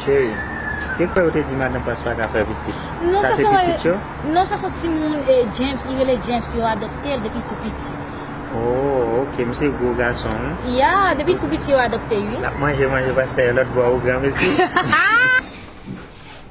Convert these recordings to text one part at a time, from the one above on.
Cheri, te kwè ou te di madan Pras pa ka fè pitit? Sa se pitit yo? Non, sa son timoun James, li rele James, yo adopte l depi tou piti. Oh, ok, misye gwo gason wi. Ya, depi tou piti yo adopte l wi. L ap manje manje pastè yo lòt bò ou granmesi.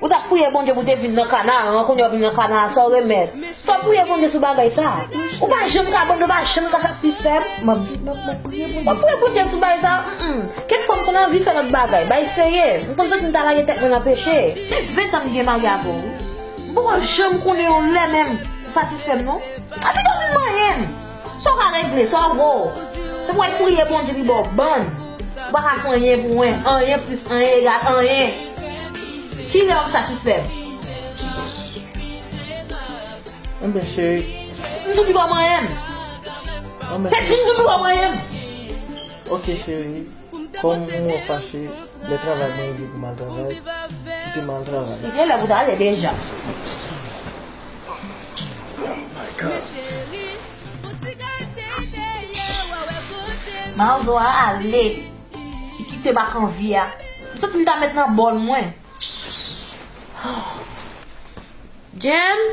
Ou tap priye Bondye pou te vin nan kanaran kounya ou vin nan kanaran sa ou remet fòw priye Bondye sou bagay sa ou pa janm ka Bondye pa janm ka satisfèm map viv map map priye Bondye map priye Bondye sou bagay sa humm kèk fwa m konn anvi fè lòt bagay bay seye m konn santi m ta lage tèt mwen nan peche fè 20 ans m gen marye avèw wi m poko janm konnen yon lè menm ou satisfèm non a pito m manyenm. Sa w ka regle, sa w vo. Se pou w al priye Bondye pi ba w bann. Ou pa ka fè anyen pou wen. Anyen plis anyen egal anyen. Ki lè w satisfè m? Enben cheri. Di m sou ki ba w manyen m. Se di m sou ki ba w manyen m. Ok cheri. Kòm ou mwen w fache, lè travay mwen rive pou m al travay, kite m al travay. Li gen lè pou w ta ale deja. Mazo a ale. Li kite m ak anvi a. M santi m ta met nan bòl mwen. James?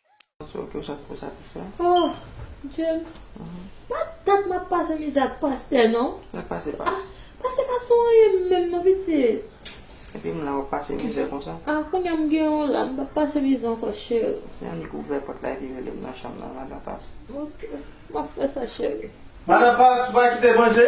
James pa dat map pase mizè ak pastè non Pase pa sou anyen menm non pitiye Kounya m gen yon la m pap pase mizè ankò cheri Ok map fè sa cheri Madan Past ou pa kite manje?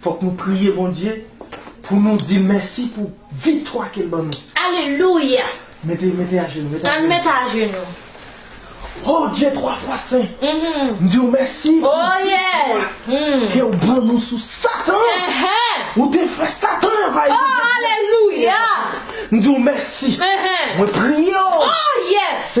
Fok nou priye Bondye pou nou dil mèsi pou viktwa kel ban nou. Alelouya! Mete mete ajenou mete ajenou. Ann met ajenou. Oh Dye 3 fwa sen m diw mèsi pou viktwa kew ban nou sou satan ou te fè satan anvayi nou oh alelouya m diw mèsi mwen priye w oh yes.